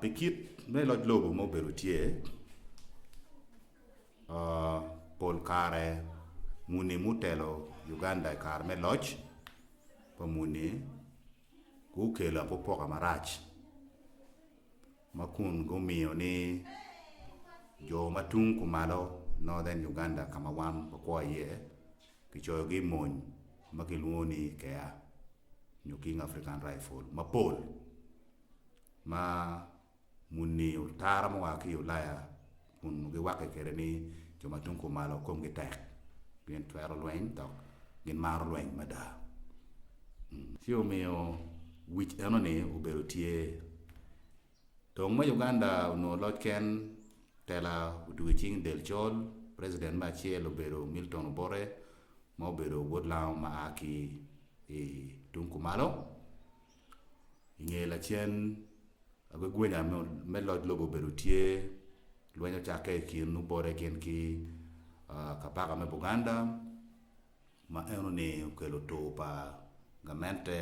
Pi kit me loc lobo ma obedo tye, pol kare muni mutelo Uganda i kare me loc pa muni gukelo apopoka marac ma kun gumiyo ni jo ma tung kumalo Northern Uganda ka ma wan wakwo iye kicoyogi i mony ma kilwongo ni KIA nyo King African Rifle mapol. ma muni otara ma oa ki i Ulaya kun giwakke kwede ni jo ma tung kumalo komgi tek, gin twero lweny dok gimaro lweny mada. Ci omiyo wic enoni obedo tye. Dong ma Uganda onongo loc ken, tela otugo i cing del col, preciden me acel obedo Milton Obote ma obedo wod Lango ma a ki i tung kumalo. I nge lacen, agwegwenya me loc lobo obedo tye, lweny ocakke i kin obote gin ki kabaka me Buganda ma enoni okelo tur pa gamente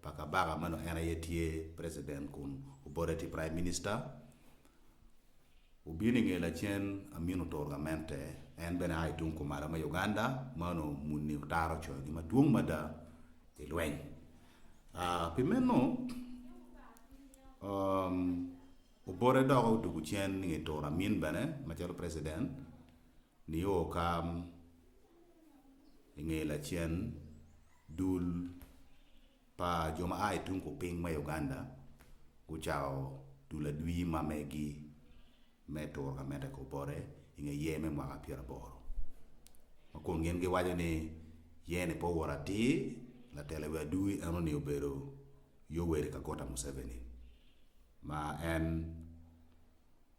pa kabaka ma nongo en aye tye precident kun obote tye prime minister Obino i nge lacen Amin oturo gamente, en bene a i tung kumalo me Uganda ma onongo muni otaro coyogi madwong mada i lweny. Pi meno, obote dok otugo cen i nge turo Amin bene macalo preciden nio ka i nge lacen dul pa jo ma a i tung kupiny me Uganda gucako dul adwi ma megi me turo ka mete kor bote i nge yer me mwaka pyeraboro ma kun gin giwaco ni yer ni pe owoto atir, latelo i wi adwi enoni obedo Yoweri Kaguta Museveni ma en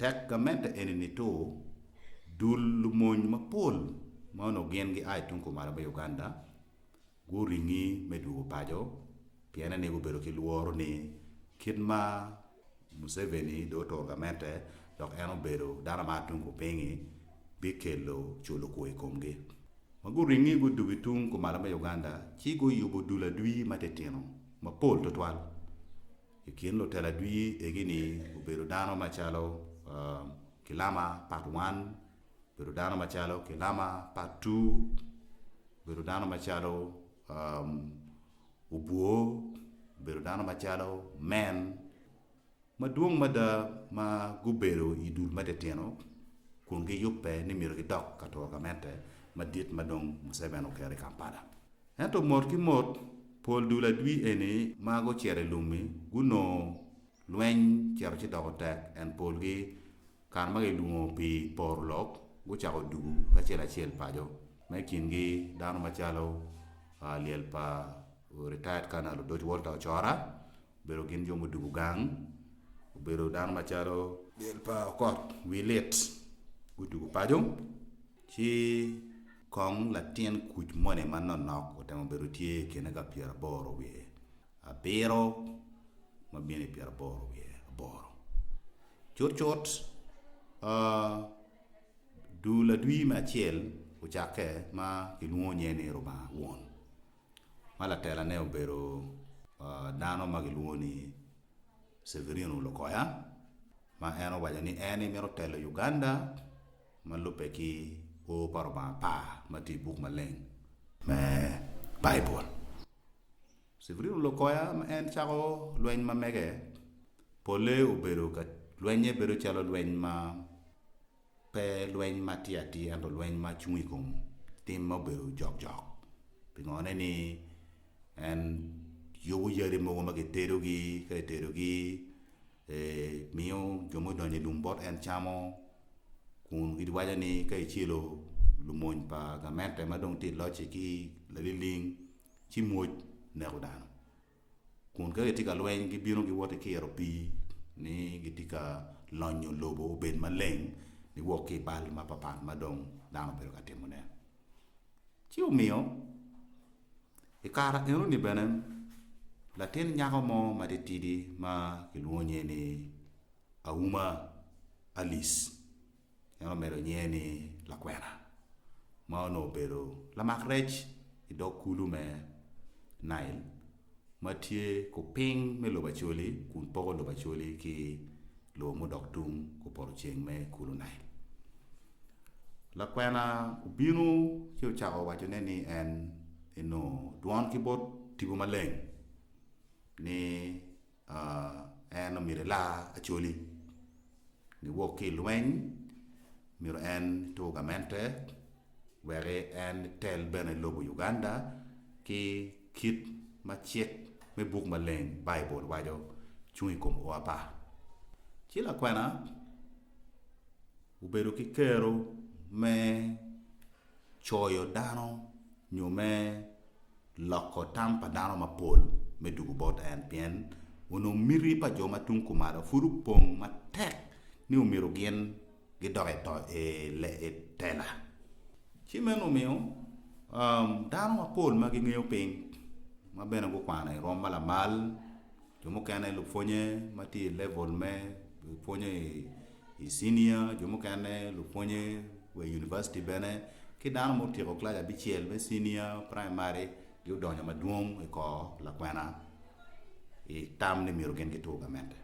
Tek gamente eni nito dul lumony mapol ma onongo gin gia i tung kumalo me Uganda guringi me dwogo paco piene ni gubedo ki lworo ni kit ma Museveni dong oturo gamente dok en obedo dano ma atung kupingi bikelo culo kwo i komgi. Ma guringi gudugo i tung kumalo me Uganda ci guyubo dul adwi matitino mapol tutwal I kin lutela dwi egini obedo dano macalo Kilama part one, obedo dano macalo Kilama part two, obedo dano macalo Obwo, obedo dano macalo Men. Madwong mada ma gubedo i dul me titino kun giyubbe ni myero gidok ka twagamente madit ma dong Museven oketo i Kampala. Ento mot ki mot, pol dul adwi eni ma gucito i lum-mi gunongo lweny cito ci doko tek, en polgi, kare ma gilwongo pi poro lok, gucako dugu kacel acel paco, ma i kingi dano macalo lyel pa retired Colonel Odoc Walter Ocora, Obedo gin jo mudubu gang. Obedo dano macalo. Del pa okot wi lit. Gudubu paco. Ci kong latin kuc moni ma nonok otemo bedo tye i kine ka pyera aboro wiye abiro ma bino i pyera aboro wiye aboro. Cut cut, dul adwi me acel ocakke ma kilwongo nye ni Rubanga Won. ma latelane obedo dano ma gilwongo ni Severino Lukoya ma en owaco ni en aye mito telo Uganda ma lubbe ki O pa Lubanga Apar ma tye i buk maleng me Baibul. Severino Lukoya ma en cako lweny ma mege, polle obedo ka lwennye bedo calo lweny ma pe lweny ma tye atir ento lweny ma cung i kom tim ma obedo jokjok. Pingone ni en yubo yadi mogo ma kitedogi, ka kitedogi miyo jo ma odonyo i lum bot en camo kun giwaco ni ka kicelo lumony pa gamente ma dong tye ka locci ki laliling ci mwoc neko dano. kun ka gitye ka lweny gibino giwot ki kiro pii ni gitye ka lonyo lobo obed maleng niwok ki i bal mapapat ma dong dano obedo ka timone. Ci omiyo i kare enoni bene latin nyako mo matitidi ma kilwongo nyinge ni Auma Alice, en omedo nyinge ni Lakwena, ma onongo obedo lamak rec i dog kulu me Nail ma tye kupiny me lobo Acholi kun poko lobo Acholi ki lobo mudok tung kupoto ceng me kulu Nail. Lakwena obino ci ocako wacone ni en enongo dwon ki bot Tipo Maleng ni, En omyero elar Acholi niwok ki i lweny, myero en etur gamente wek en etel bene i lobo Uganda ki kit ma cik me buk maleng, Baibul, waco cung i kom o apa. Ci lakwena. Obedo ki kero me coyo dano nyo me loko tam pa dano mapol me dugu bot en, pien onongo miti pa jo ma tung kumalo pud opong matek ni omyero gin gidok i tela. Ci meno omiyo dano mapol ma gingeyo piny ma bene gukwano i rwom ma lamal, jo mukene lupwonye ma tye i level me pwonye i I cinia, jo mukene, lupwonye wa i univaciti bene, ki dano ma otyeko kilac abicel me cinia, praimari, giodonyo madwong i kor lakwena i tam ni myero gin gitur gamente.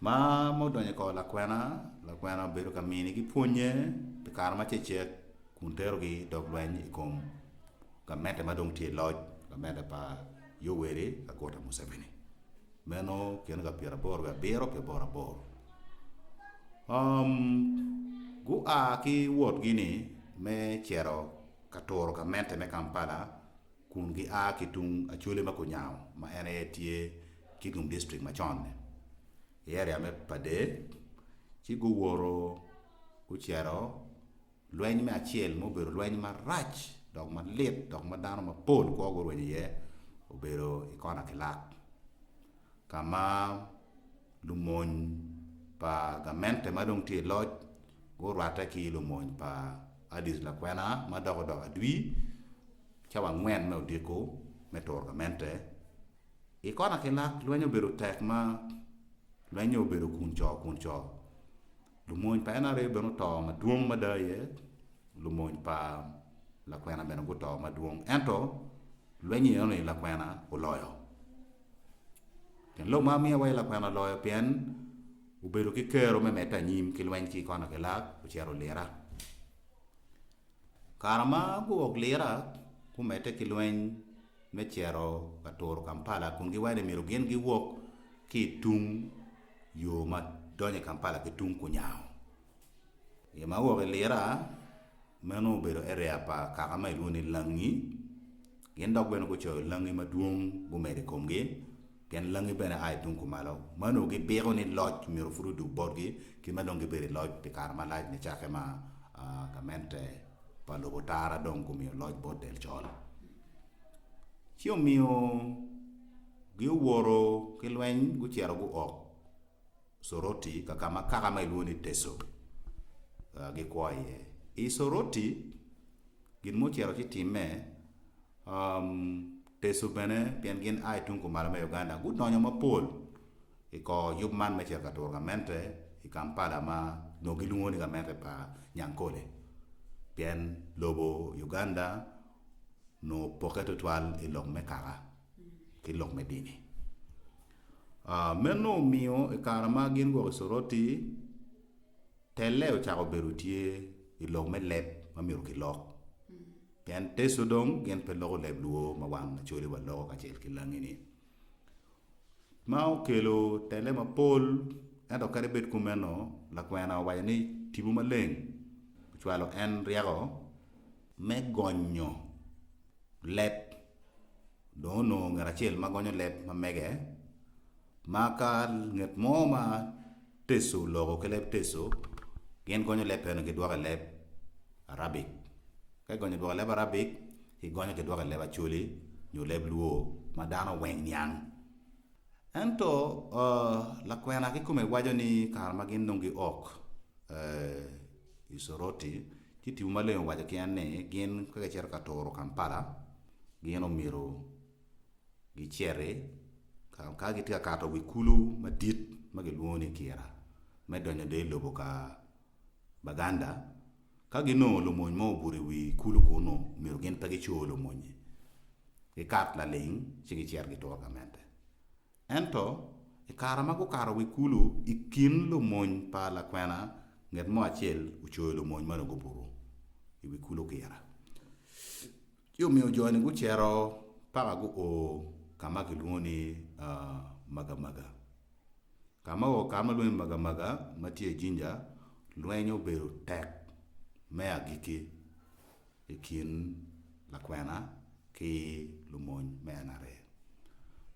Ma ma odonyo i kor lakwena, lakwena obedo ka minigi pwonye pi kare macecek kun terogi dog lweny i kom gamente ma dong tye i loc, gamente pa Yoweri Kaguta Museveni. Meno kene ka pyeraboro wiye abiro pi boro aboro. Um, gua ki wotgi-ni me cito ka turo gamente me Kampala kun gia ki tung Acholi ma Kunyango ma en aye tye Kigum District macon-ni, i area me Padee, ci guwoto gucito Lweny me acel ma obedo lweny marac dok malit dok ma dano mapol kwo gurwenyo iye obedo i kona ki lak, ka ma lumony pa gamente ma dong tye i loc gurwatte ki lumony pa Addis Lakwena ma dok odoko adwi cawa angwen me odiko me turo gamente. I kona ki lak, lweny obedo tek ma lweny-nyo obedo kun co kun co. Lumony pa en aryo bene oto madwong mada aye lumony pa lakwena bene guto madwong. Ento lweny enoni lakwena oloyo. Pien lok ma miyo awaci lakwena oloyo pien obedo ki kero me medde anyim ki lweny ki koni ki lak ocito olira. Kare ma guwok lira gumedde ki lweny me cito ka turo Kampala kun giwaco ni myero gin giwok ki i tung yo ma donyo i Kampala ki tung Kunyango. I ma owok i lira meno obedo area pa kaka ma ilwongo ni Langi, gin dok bene gucoyo Langi madwong gumedo i komgi. Gin langi bene a i tung kumalo ma onongo gipiko ni loc myero pud odug botgi ki ma dong gibedo i loc pi kare malac nicakke ma gamente pa lobo tara dong gumiyo loc bot del col. Ci omiyo giowoto ki lweny gucito guok Soroti ka ka ma kaka ma ilwongo ni Teso gikwo iye. I Soroti gin mucito ci timme, Teso bene pien gin a i tung kumalo me Uganda gudonyo mapol i kor yub man me cito ka turo gamente i Kampala ma onongo gilwongo ni gamente pa Nyankole pien lobo Uganda onongo opokke tutwal i lok me kaka ki lok me dini. Meno omiyo i kare ma gin guwok i Soroti, Telle ocako bedo tye i lok me leb ma myero kilok, pien Teso dong gin pe loko leb Luo ma wan Acholiwa loko kacel ki Langi-ni. Ma okelo telle mapol, ento kadi bed kumeno, lakwena owaco ni Tipo Maleng ocwalo en ryeko me gonyo leb, dong onongo ngat acel ma gonyo leb ma mege, ma ka nget mo ma. Teso loko ki leb Teso, gin gonyo leb eno gidwoko i leb Arabic. Ka gigonyo dwoko i leb Arabic, gigonyo gidwoko i leb Acholi nyo leb Luo ma dano weng niang. Ento lakwena kikome waco ni kare ma gin dong giok i Soroti, ci Tipo Maleng owaco ki en ni gin ka gicito ka turo Kampala, gin omyero giciti ka gitye ka kato wi kulu madit ma kilwongo ni Kira me donyo dong i lobo ka Baganda. Ka ginongo lumony mo obuto i wi kulu kunnu, omyero gin pe gicor lumonyi, gikat laling ci gicit gitur ka mette. Ento, i kare ma gukato wi kulu, i kin lumony pa lakwena, nget mo acel ocoyo lumony meno gubuto i wi kulu Kira. Ci omiyo jo-ni gucito paka guo ka ma kilwongo ni Magamaga. Ka ma oo ka ma lwongo ni Magamaga ma tye i Jinja, lweny obedo tek me agikki i kin lakwena ki lumony me NRA.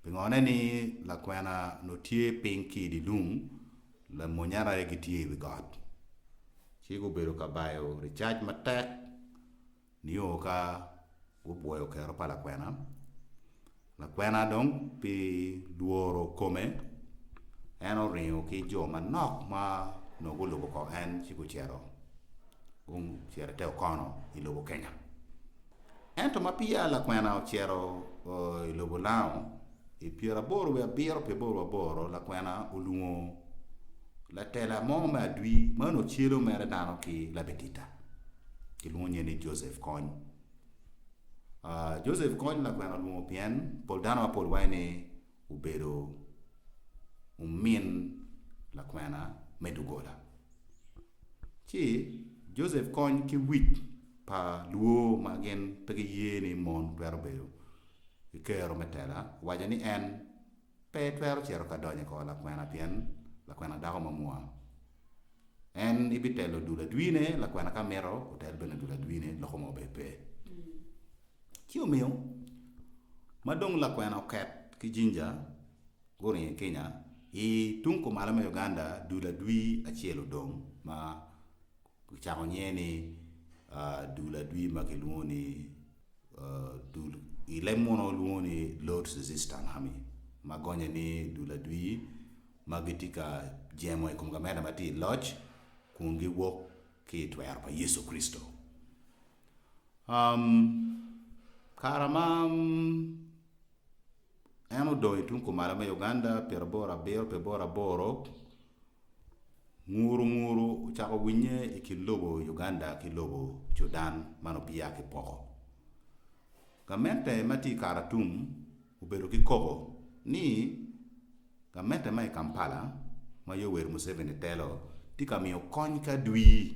Pingone ni lakwena onongo tye piny ki i dye lum, lamony NRA gitye i wi got. Ci gubedo ka bayo ricac matek. Nio ka gupwoyo kero pa lakwena, lakwena dong pi lworo kome, en oringo ki jo manok ma onongo gulubo ko en ci gucito, gucito ite okono i lobo Kenya. Ento ma peya lakwena ocito i lobo Lao, I pyeraboro wiye abiro pi aboro aboro lakwena olwongo latela mo me adwi ma nongo ocelo mere dano ki labitita kilwongo nye ni Joseph Kony. Uh, Joseph Kony lakwena olwongo pien pol dano mapol waco ni obedo omin lakwena me dugola. Ci Joseph Kony ki wic pa lwor ma gin pe giye ni mon twero bedo i kero me tela owaco ni en pe twero cito ka donyo i kor lakwena pien lakwena dako mamua. En ibitelo dul adwine, lakwena ka mito otel bene dul adwine, loko mo bene pe. Ci omiyo ma dong lakwena oket ki Jinja guringo i Kenya, i tung kumalo me Uganda dul adwi acel odong ma Kicako nyinge ni dul adwi ma kilwongo ni dul i leb muno lwongo ni Lord's Resistance Army ma gonye ni dul adwi ma gitye ka jemo i kom gamente ma tye i loc kun giwok ki i twero pa Yecu Kricito. Um, kara ma en odong i tung kumalo me Uganda pyera boro abiro pi boro aboro, nguru nguru ocako winye i kin lobo Uganda ki lobo Cudan man obiya ki poko. Gamente ma tye i Karatum obedo ki koko ni gamente ma i Kampala ma Yoweri Museveni telo tye ka miyo kony ki adwir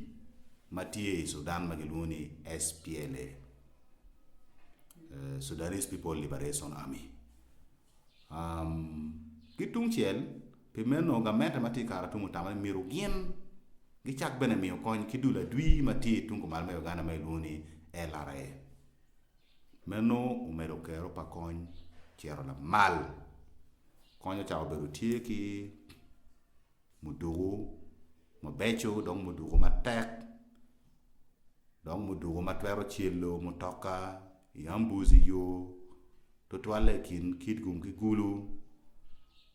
ma tye i Cudan ma gilwongo ni SPLA. Sudanese People Liberation Army. Ki tung cel, pi meno gamente ma tye i Karatum otamo ni myero gin gicak bene miyo kony ki dul adwi ma tye tung kumalo me Uganda ma kilwongo ni LRA. Meno omedo kero pa kony cito lamal. Kony ocako bedo tye ki. muduku mabeco dong muduku matek dong muduku ma twero celo mutoka i ambuc i yo tutwalle i kin Kitgum ki Gulu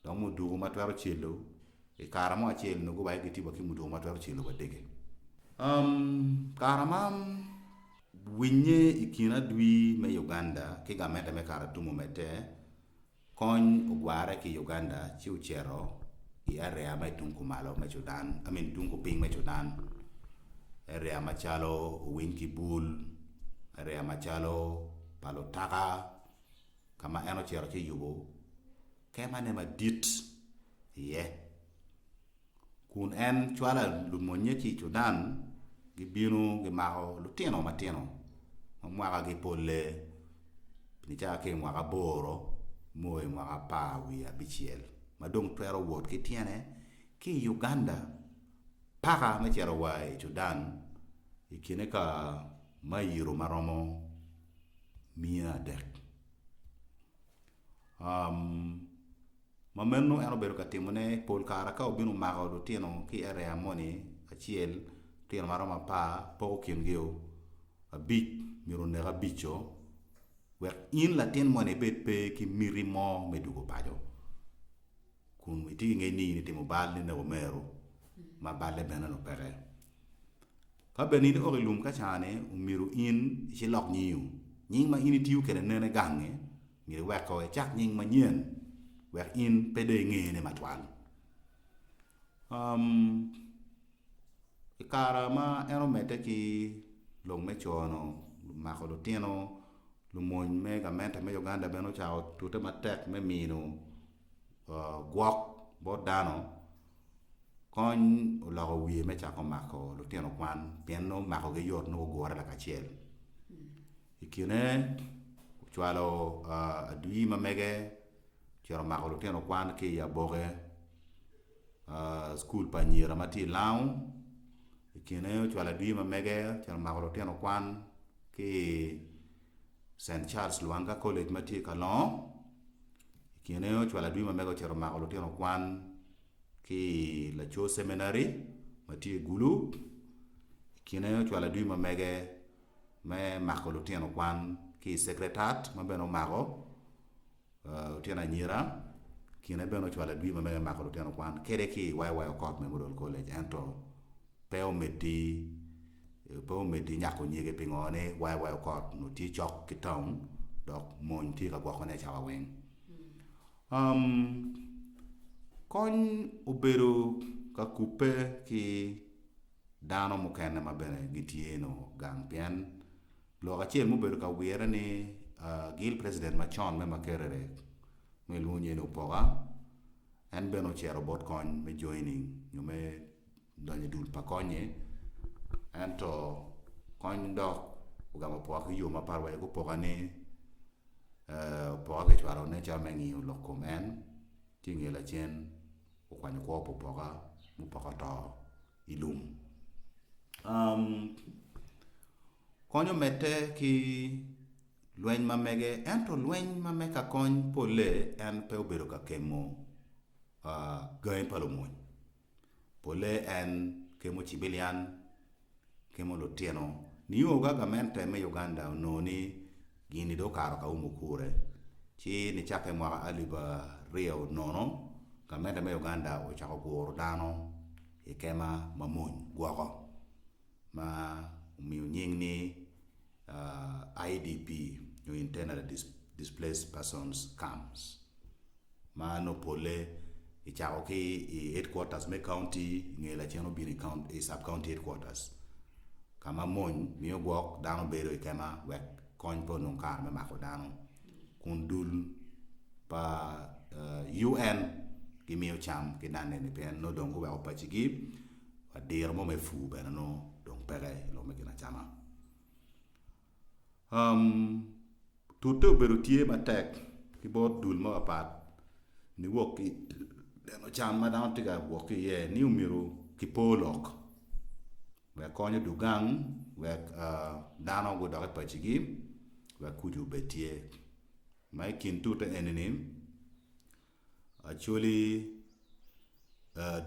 dong muduku ma twero celo i kare mo acel nongo wa aye gitye wa ki muduku ma twero celo wa dege. Kare ma winnye i kin adwi me Uganda ki gamente me Karatumu omedde, Kony ogwarre ki i Uganda ci ocito i area ma i tung kumalo me Cudan, I mean tung kupiny me Cudan, area macalo owiny ki bul, area macalo pa lutaka ka ma en ocito ci oyubo kemane madit iye. Kun en cwalo lumonnye ki i Cudan, gibino gimako lutino matino ma mwakagi polle pi nicaka ki i mwaka aboro mo i mwaka apar wiye abicel ma dong twero wot ki tyene ki i Uganda paka me cito wa i Cudan i kine ka mairo ma romo miya adek. Ma meno en obedo ka timone pol kare ka obino omako lutino ki i eria moni acel, lutino ma romo apar, poko kingi-o, abic myero onek abic-co, wek in latin moni ibed pe ki miti mo me dwogo paco kun itye ki ngec ni in itimo bal, ineko meru ma balle bene nongo peke. Ka bene in ioki lum ka cane omyero in ici lok nyingu. Nying ma in itiyo kede nene gange myero iweko ecak nying manyen wek in pe dong ingene matwal. Um I kara ma en omedde ki lok me cono mako lutino, lumony me gamente me Uganda bene ocako tute matek me mino gwok bot dano kony oloko wiye me cako mako lutino kwan pien nongo makogi yot nongo gugure lakacel i kine ocwalo adwi ma mege ocito mako lutino kwan ki i aboke cukul pa anyira ma tye i Lao i kine ocwalo adwi ma mege ocito mako lutino kwan ki Cent Charles Lwanga College ma tye i Kalongo. I kine ocwalo adwi ma mege ocito mako lutino kwan ki i Laco Seminary ma tye i Gulu. I kine ocwalo adwi ma mege me mako lutino kwan ki i Secretariat ma bene omako. Lutino anyira kine bene ocwalo adwi ma mege mako lutino kwan kede ki i YY Okoth Memorial College ento pe omeddi pe omeddi nyako nyege pingo ni YY Okoth onongo tye cok ki taun dok mony tye ka gwokone i cawa weng. Um, kony obedo ka kubbe ki dano mukene ma bene gitye nongo gang pien Lok acel ma obedo ka wirre ni Gil president macon me Makerere ma kilwongo nyinge ni Opoka en bene ocito bot kony me joining nyo me donyo i dul pa kony-nyi ento kony dok ogamo Opoka ki yo mapat wa i Opoka ni Opoka kicwalo ne calo me ngiyo lok kom en ci nge lacen okwanyo kwo pa Opoka ma Opoka oto i lum. konyo medde ki lweny ma mege, ento lweny ma me ka kony polle en pe obedo ka kemo gangi pa lumony. Polle en kemo cibilian, kemo lutino nio ka gamente me Uganda onongo ni gini dong okato ka umu kure ci nicakke mwaka alip aryo nono gamente me Uganda ocako guro dano i kema mamony gwoko. ma omiyo nying ni IDP nyo Internally Displaced Persons Camps ma nongo polle ki cako ki i headquarters me county i nge lacen obino i sub county headquarters ka ma mony miyo gwok dano bedo i kema wek kony pe onong kare me mako dano kun dul pa UN gimiyo cam ki dano eni pien nongo dong guweko pacigi. wa diro mo me pur bene nongo dong peke i lok me ginacama. Um, tute obedo tye matek ki bot dul mapapat niwok ki neno can ma dano tye ka wok ki iye ni omyero kipo lok wek kony odog gang wek uh, dano gudok i pacigi wek kucu obed tye ma i kin tute eni-ni Actually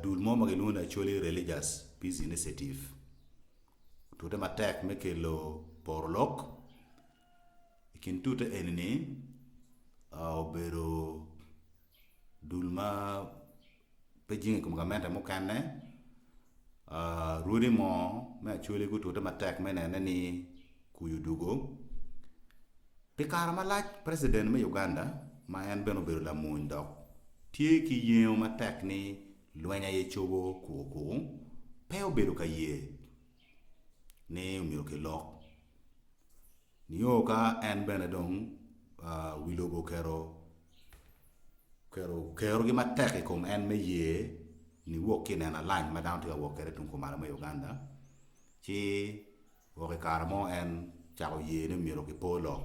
dul mo ma gilwongo ni actually religious peace initiative otute matek me kelo poro lok i kin tute eni ni obedo dul ma pe jing i kom gamente mukene Rwodi mo me acholi gutute matek me nene ni kwi odugo. Pi kare malac president me Uganda ma en bene obedo lamony dok tye ki yengo matek ni lweny aye cobo kuku kuku pe obedo ka ye ni omyero kilok. Nio ka en bene dong wi lobo oketo oketo kerogi matek i kom en me ye ni wok ki i neno alac ma dano tye ka wok kwede tung kumalo me Uganda, ci wok i kare mo en cako ye ni myero kipo lok,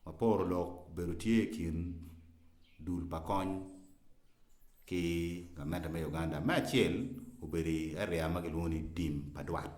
ma poro lok obedo tye i kin dul pa kony ki gamente me Uganda. Me acel obedo i area ma kilwongo ni tim pa dwat.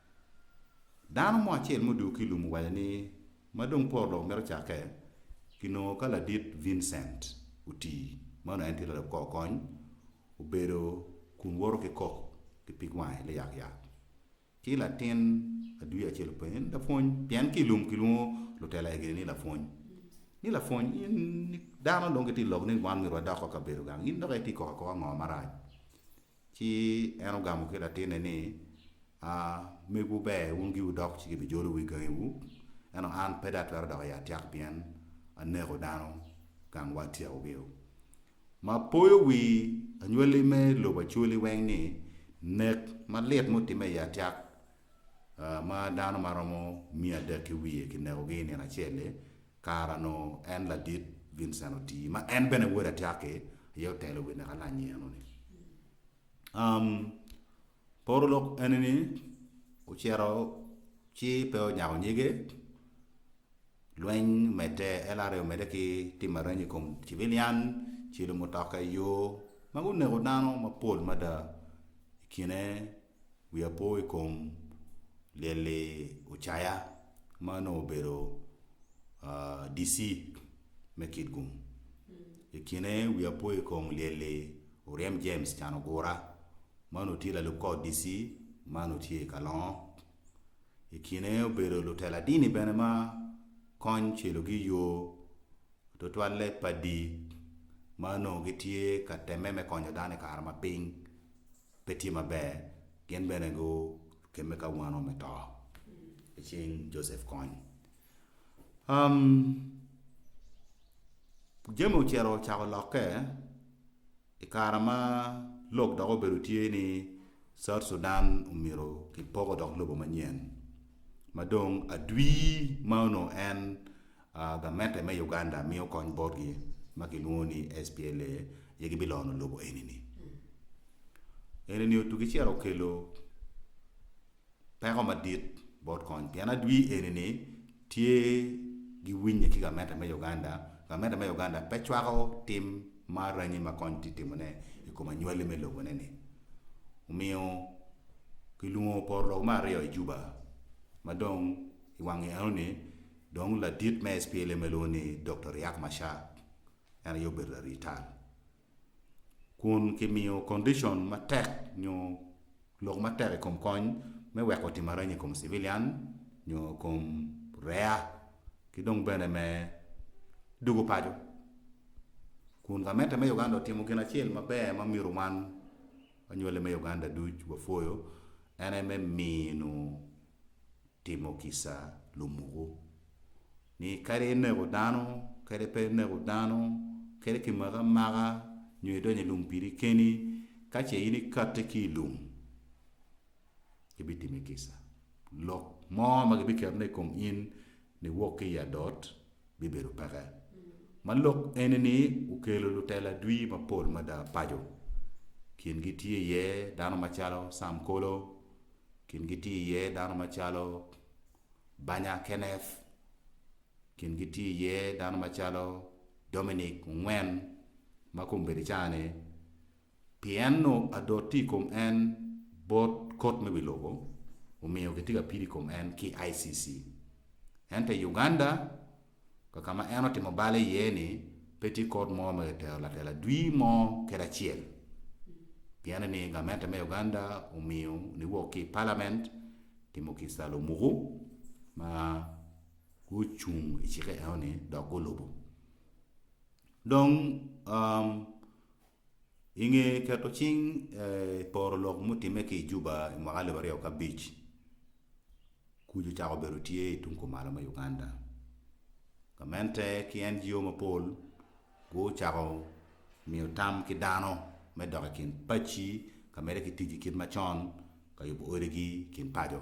Dano mo acel ma odwogo ki i lum owaco ni, Ma dong poro lok mito cakke, kinongo ka ladit Vincent oti, ma onongo en tye lalok kor kony, obedo kun woto ki kok ki pig wange liyakyak ki latin adwi acel openye ni, Lapwony, pien ki i lum kilwongo lutela egini ni lapwony, ni, Lapwony, in dano dong gitye ka lok ni wan myero wadok wa i kabedo gang, in dok itye ka kok akoka ngo marac? Ci en ogamo ki latinne ni, Aa, megwu ber wun giwu dok ci gibijolo wi gangiwu, ento an pe dong atwero dok i atyak pien aneko dano gangwa atyekogiu. Ma poyo wi anywali me lobo acwali weng ni, nek malit ma otimme i atyak ma dano ma romo miya adek ki wiye kinekogi i nino acel-li, Kara nongo en ladit Vincent Otii ma en bene Wod Atyaki aye otelo wi neka lany eno ni. Um, poro lok eni ni ocito ci pe onyako nyige, lweny omedde, LRA omedde ki tim areny i kom civilian, cilo mutoka i yo, ma guneko dano mapol mada i kine wiya po i kom lyel-li Ocaya ma onongo obedo DC me Kitgum. I kine wiya po i kom lyel-li Oryem James Canogura ma onongo tye lalub kor DC ma onongo tye i Kalongo. I kine obedo lutela dini bene ma kony celogi i yo tutwalle padi ma onongo gitye ka temme me konyo dano i kare ma piny. pe tye maber, gin bene gukemme ka wano me to i cing Joseph Kony. Um, jami ocito ocako lokke i kare ma lok dok obedo tye ni South Sudan omyero kipoko dok lobo manyen ma dong adwi ma onongo en Gamente me Uganda miyo kony botgi ma kilwongo ni SPLA aye gibilono lobo enini. Enini otugi ciro okelo peko madit bot kony pien adwi enini tye giwinye ki gamente me Uganda, gamente me Uganda pe cwako tim ma aranyi ma kony tye timone i kom anywali me loboneni. Omiyo kilwongo porolok me aryo i Juba ma dong i wang yo enoni Dong ladit me SPLA ma ilwongo ni Doktor Riak Machar en aye obedo larii tal. Kun kimiyo condition matek nyo lok matek i kom kony me weko otim aranya i kom civilian nyo i kom rea ki dong bene me dugo paco. Kun gamente me Uganda otimo gin acel maber ma myero wan anywali me Uganda duc wapwoyo en aye me mino Timo kica lumuku ni kadi ineko dano kadi pe ineko dano, kadi kimaki amaka nyo idonyo i lum piri keni, ka ce in ikati ki i lum, gibitimi kica. Lok mo ma gibiketone i kom in niwok ki i adot bibedo peke. Ma lok eni-ni okelo lutela dwi mapol mada paco. Kingi tye iye dano macalo Sam Kolo, Kingi tye iye dano macalo Banya Kenneth, kingi tye iye dano macalo Dominic Ongwen ma kong obedo i caa-ni, pien nongo adot tye i kom en bot kot me wi lobo, omiyo kitye ka pido i kom en ki ICC. Ento i Uganda, ka ka ma en otimo bal iye-ni, pe tye kor mo ma kitero latela dwi mo kede acel. Pienni ni gamente me Uganda omiyo niwok ki i palament timo ki salo muku ma gucung i cike eno-ni dok gulubo. Dong, um. I nge keto cing i poro lok mutimme ki i Juba i mwaka alip aryo ki abic, kuc ocako bedo tye i tung kumalo me Uganda. Gamente ki NGO mapol gucako miyo tam ki dano me dok i kin pacci ka medde ki tic ki kit macon ka yubo odigi i kin paco.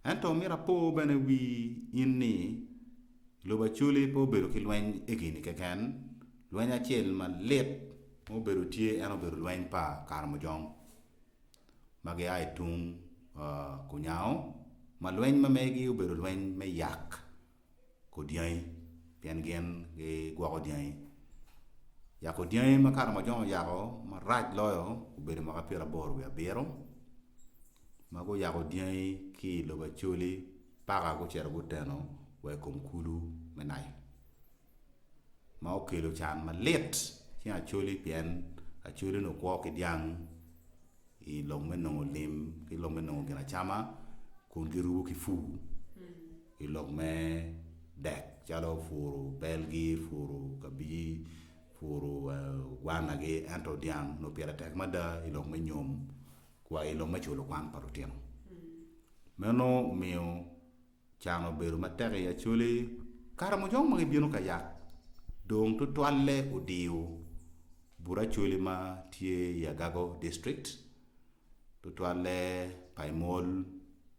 Ento myero apor bene wii in ni, i lobo Acholi pe obedo ki lweny egini keken, Lweny acel malit ma obedo tye en obedo lweny pa Karamojong ma gia i tung Kunyango ma lweny ma megi obedo lweny me yak ko dyangi pien gin gigwoko dyangi. Yako dyangi ma Karamojong oyako marac loyo obedo mwaka pyera aboro wiye abiro ma guyako dyangi ki i lobo Acholi paka gucito guteno wa i kom kulu me Nile. ma okelo can malit ki Acholi pien Acholi onongo kwo ki dyang i lok me nongo lim ki lok me nongo ginacama kun girubo ki pur i lok me dek calo puro belgi, puro kabiji, puro gwanagi ento dyang onongo pire tek mada i lok me nyom wa i lok me culo kwan pa lutino. Meno omiyo Can obedo matek i Acholi kare mujong ma gibino ka yat dong tutwalle odiyo but Acholi ma tye i Agago district, tutwalle Paimol,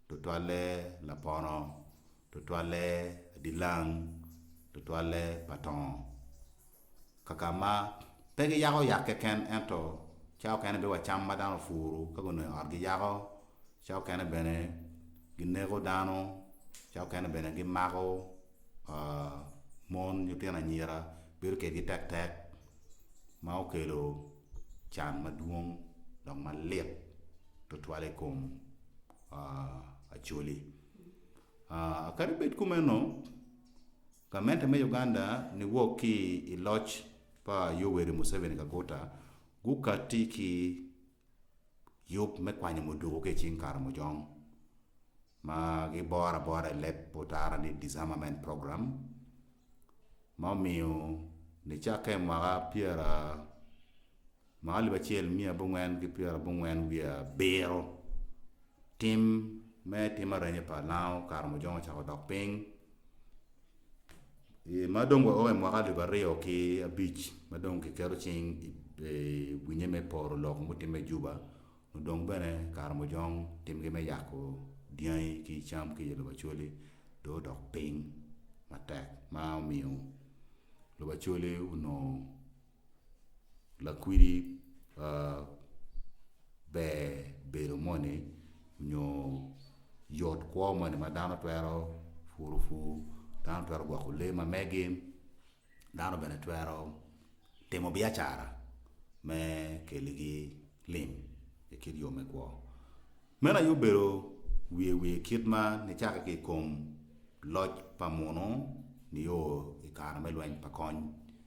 tutwalle Lapono, tutwalle Adilang, tutwalle Patongo. kaka ma pe giyako yat keken ento cawa okene bino wa cam ma dano opuru ka gunongo i ot giyako, cawa okene bene gineko dano, cawa okene bene gimako mon nyo tino anyira bedo kwedgi tek tek ma okelo can madwong dok malit tutwal i kom Acholi kadi bed kumeno Gamente me Uganda niwok ki i loc pa Yoweri Museveni Kaguta gukatti ki yub me kwanyo muduku ki i cing Karamojong ma giboro abora i leb otara ni Disarmament Program ma omiyo nicakke mwaka pyera Ma alip acel miya abongwen ki pyera abongwen wiye abiro, tim me tim arenge pa lango kare mujong ocako dok piny, ma dong wa o i mwaka alip aryo ki abic ma dong kiketo cing i winye me poro lok mutimme i Juba, mudong bene kare mujong timgi me yako dyangi ki cam ki i lobo Acholi dong odok piny matek ma omiyo lobo Acholi onongo. lakwidi ber bedo moni nyo yot kwo moni ma dano twero puru pur, dano twero gwoko lee ma megi, dano bene twero timo biacara me keligi lim i kit yo me kwo. Meno aye obedo wiye wiye kit ma nicako ki i kom loc pa munu nio i kare me lweny pa kony.